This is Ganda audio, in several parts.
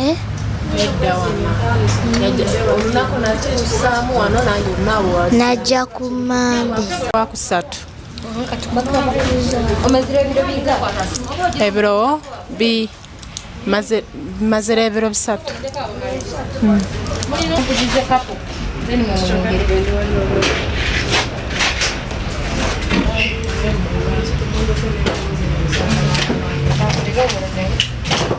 Eh? najja ku mande wakusatu ebiro bi mazira ebiro bisatu hmm. Thank you.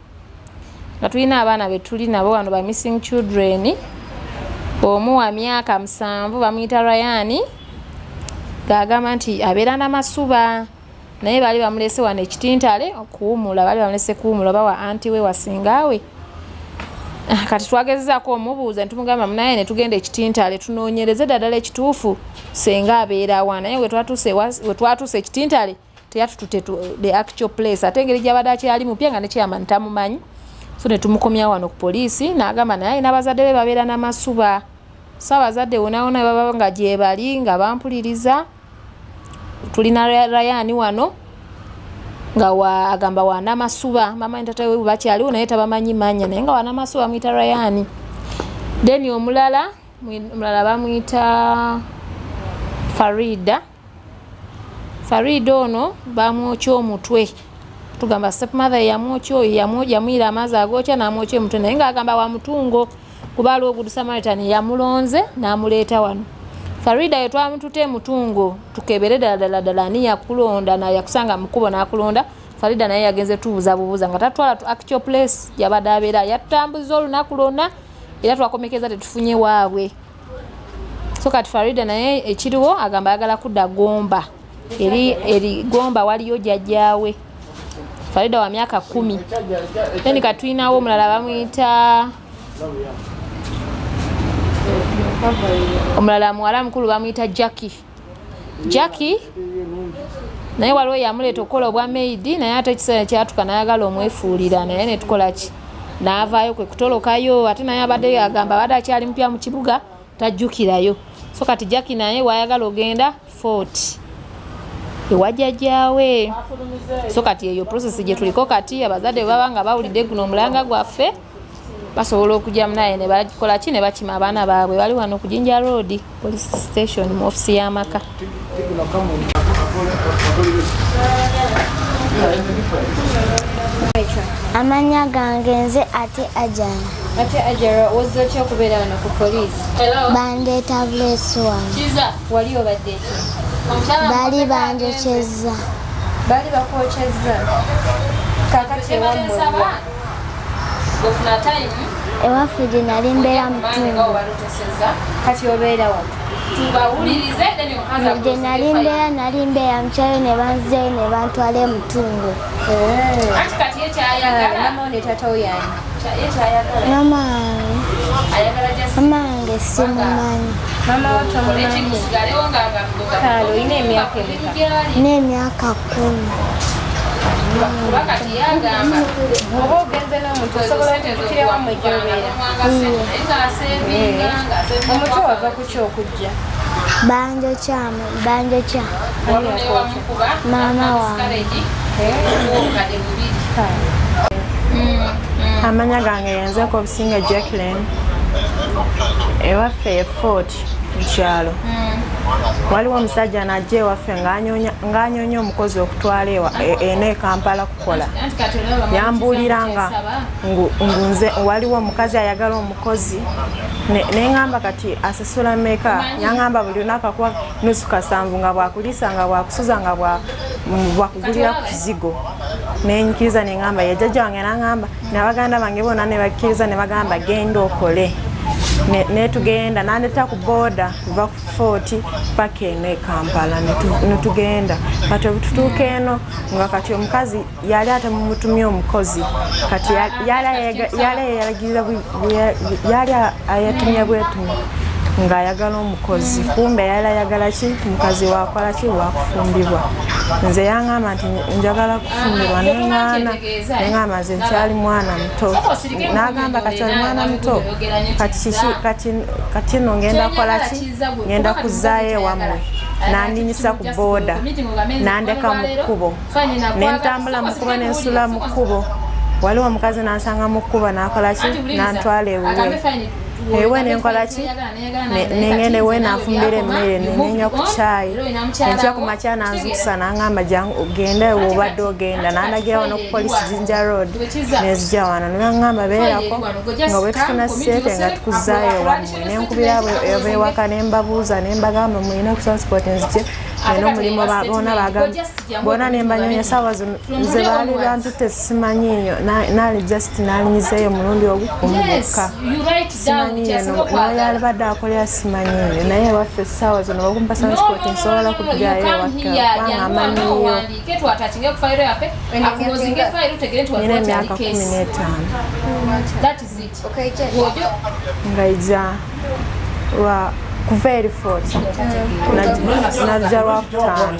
nga tulina abaana betuli nabo wano ba missing children omu wa myaka musanvu bamuyita rayani gaagamba nti abeera namasuba naye baali bamulese wano ekitintale okuwumula baali bamulese kuwumula oba wa anti we wasingaawe Ah, kati twagezezaako omubuuza nitumugamba munaye netugenda ekitintale tunoonyereze daddala ekituufu senga abeerawa naye wetwatuuse ekitintale teyatutute the actual place ate engeri gyabadde akyali mupya nga ne chairman tamumanyi so ne tumukomya wano ku poliisi n'agamba naye alina bazadde be babeera n'amasuba so abazadde wonawona baba nga gyebali nga bampuliriza tulina rayani wano nga wa agamba wana masuba mama ntata we bakyali unaye tabamanyi manya naye nga wana masuba mwita Ryan then omulala mulala bamwita Farida Farida ono bamwokya omutwe tugamba stepmother yamwokya oyo yamuyira amaazi agookya namwokya omutwe naye ngaagamba wa mutungo kuba aliwo good samaritan yamulonze namuleeta wano farida yo twamutute emutungo tukebere ddala ddala ddala ani yakulonda nayakusanga mukubo nakulonda farida naye yagenze tubuuza bubuuza nga tatwala tu actual place yabadde abeera yatutambuza olunaku lwonna era twakomekeza tetufunye waabwe so kati farida naye ekiriwo agamba ayagala kudda gomba eri eri gomba waliyo jajjawe farida wa myaka kumi then katulinawo omulala bamuyita omulala muwala mukulu bamuyita jacki jacki naye waliwo yamuleeta okukola obwa maidi naye ate ekiseera kyatuka nayagala omwefuulira naye netukola ki naavaayo kwe kutolokayo ate naye abadde agamba abadde akyali mupya mu kibuga tajjukirayo so kati jacki naye wayagala ogenda fort ewajajaawe so kati eyo process gye tuliko kati abazadde baba nga bawulidde guno omulanga gwaffe basobola okugyamu naye nebakola ki ne bakima abaana baabwe bali wano ku jinja road police station mu ofisi y'amaka amanya gange nze ate ajara ate ajara ozze otya okubeera wano ku poliisi bandeeta buleesi wano wali obadde bali banjokyezza bali bakwokyezza kakati ewammwe ewaffe gye nali mbeera mutundu gye nali mbeera nali mbeera mukyayo ne banzeeyo ne bantwala emutundu mamange simumanyi n'emyaka kuba kati yagamba oba ogenze n'omuntu osobola okukireba mu gyobera omutu wava ku ky okujja banjo kyamu banjo kya maama wange amanya gange yenzeko obusinga jacklin ewaffe ye fort mukyalo hmm. waliwo omusajja najja ewaffe ng'anyonya omukozi okutwala ewa e, eno ekampala kukola yambuulira nga ngunze waliwo omukazi ayagala omukozi neŋamba kati asasula meka yaŋamba buli lunaku akuwa nusu kasanvu nga bwakuliisa nga bwakusuza nga bwakugulira ku kizigo nenyikiriza neŋamba yajjajja wange naŋamba nabaganda bange bona nebakkiriza nebagamba genda okole netugenda ne nandeta ku boda kuva ku fort paka eno ekampala netugenda kati obututuuka eno nga kati omukazi yali ate mumutumye omukozi kati yali ayatumye bwetumu ng'ayagala omukozi kumbe yali ayagala ki mukazi wakola ki wakufumbibwa nze yangamba nti njagala kufumbirwa neŋaana ngamba nze nkyali mwana muto nagamba kati oli mwana muto kati kiki kati kati no ngenda kola ki ngenda kuzaayo ewamwe nandinyisa ku booda nandeka mu kkubo nentambula mu kkubo nensula mu kkubo waliwo omukazi nansanga mu kkubo nakola ki nantwala ewuwe ewe nenkola ki nengende we nafumbira emmere nenywa ku kyayi enkya ku makya nanzukusa nangamba genda wobadde ogenda nandagira wano ku polisi jinja road nezija wano nangamba beerako nga bwetufuna sente nga tukuzaayo ewammwe nenkubira abo ewaka nembabuuza nembagamba mulina ku transport nzije era omulimu bona bagambye bona nembanyonya saawa nze baali bantu tesimanyiyo nali just nalinyizeeyo omulundi ogukumu bokka yalibadde akolera simanyi eyo naye ewaffe essaawa zino bakumpa sanspoti nsobola kujjayo ewakkewangaamanyiyonina emyaka kumi n'etaano ngaija lwa kuva eri fort najja lwakutaano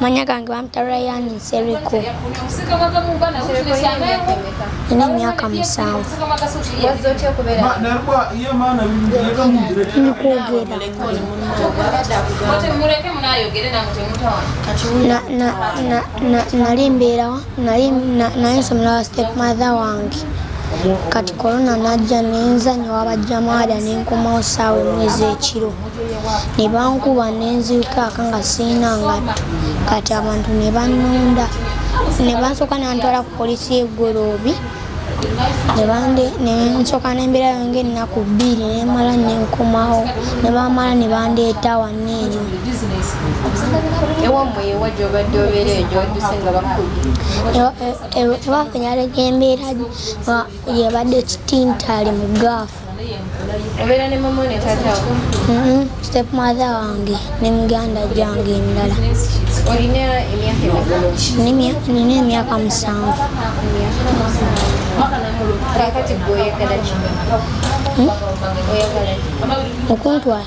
Manya gange bampita Ryan Nsereko. Nina emyaka musanvu. Nali mbeerawa nali nsomera wa step mother wange kati korona najja nenzanyo wabajjamaada nenkomawo saawa emwezi ekiro ne bankuba ne nzirukaaka nga sirina ngatto kati abantu ne bannonda ne bansooka nantwala ku poliisi y'eggoloobi nensooka nembeera yonga ennaku bbiri nemala nenkomawo ne bamala ne bandeeta wanna eyo ewaffe nyaleka embeera yebadde kitintale mu gaafu obeera ne mama ne tatawo mm-hmm. step mother wange ne muganda gyange endala olina emyaka nina emyaka musanvu kakati gwe oyagala ki hmm? okuntwala